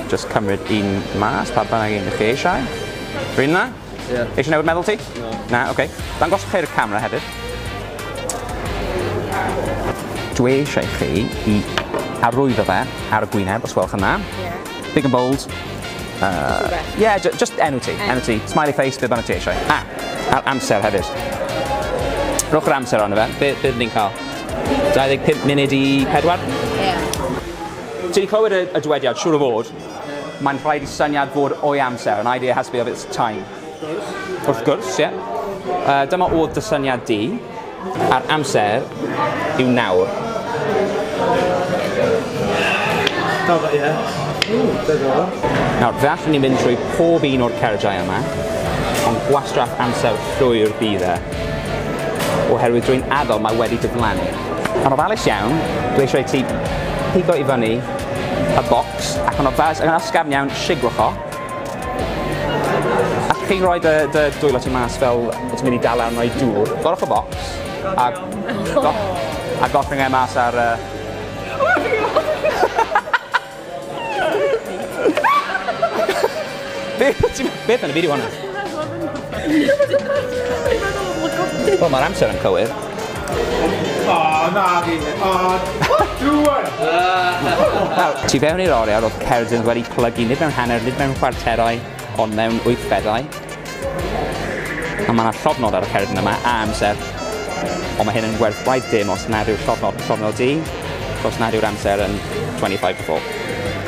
Just cymryd un mas, pa bynnag un chi eisiau. Rwy'n na? Ie. Eisiau newid meddwl ti? No. Na, oce. Okay. Dangos chi'r camera hefyd. Dwi eisiau chi i arwyddo fe ar y gwyneb, os welwch yna. Ie. Big and bold. Uh, yeah, just enw ti, enw ti. Smiley face, beth bynnag ti eisiau. A, a'r amser hefyd. Rhowch yr amser ond fe. Be, be ni'n cael? 25 munud i 4? Ie. Ti wedi clywed y, y dywediad, siŵr o fod, mae'n rhaid i syniad fod o'i amser, an idea has to be of its time. Wrth gwrs, ie. Yeah. Uh, dyma oedd dy syniad di. A'r amser yw nawr. Nawr, fe allwn ni fynd trwy pob un o'r cardiau yma, ond gwastraff amser llwyr bydd e, oherwydd drwy'n adael mae wedi diflannu. Yn ofalus iawn, dwi eisiau i ti pigo i fyny y bocs, ac yn ofalus, ac yn ysgafn iawn, sigwch o. Allwch chi roi dy, dy dwylo ti mas fel ti'n mynd i dal arno i dŵr? Gorwch y bocs a, go, a goffring e mas ar... Uh... Beth yn y fideo hwnna? Wel, mae'r amser yn cywir. Oh, na fi. Oh, Duan! Tu fewn i'r oriau roedd Ceredigion wedi plygu nid mewn hanner, nid mewn chwarterau, ond mewn wythfedau. A mae yna llofnod ar y cered yma a amser. Ond mae hyn yn werth gwaith dim os nad yw'r llofnod yn llofnod di, os nad yw'r amser yn 25 to 4.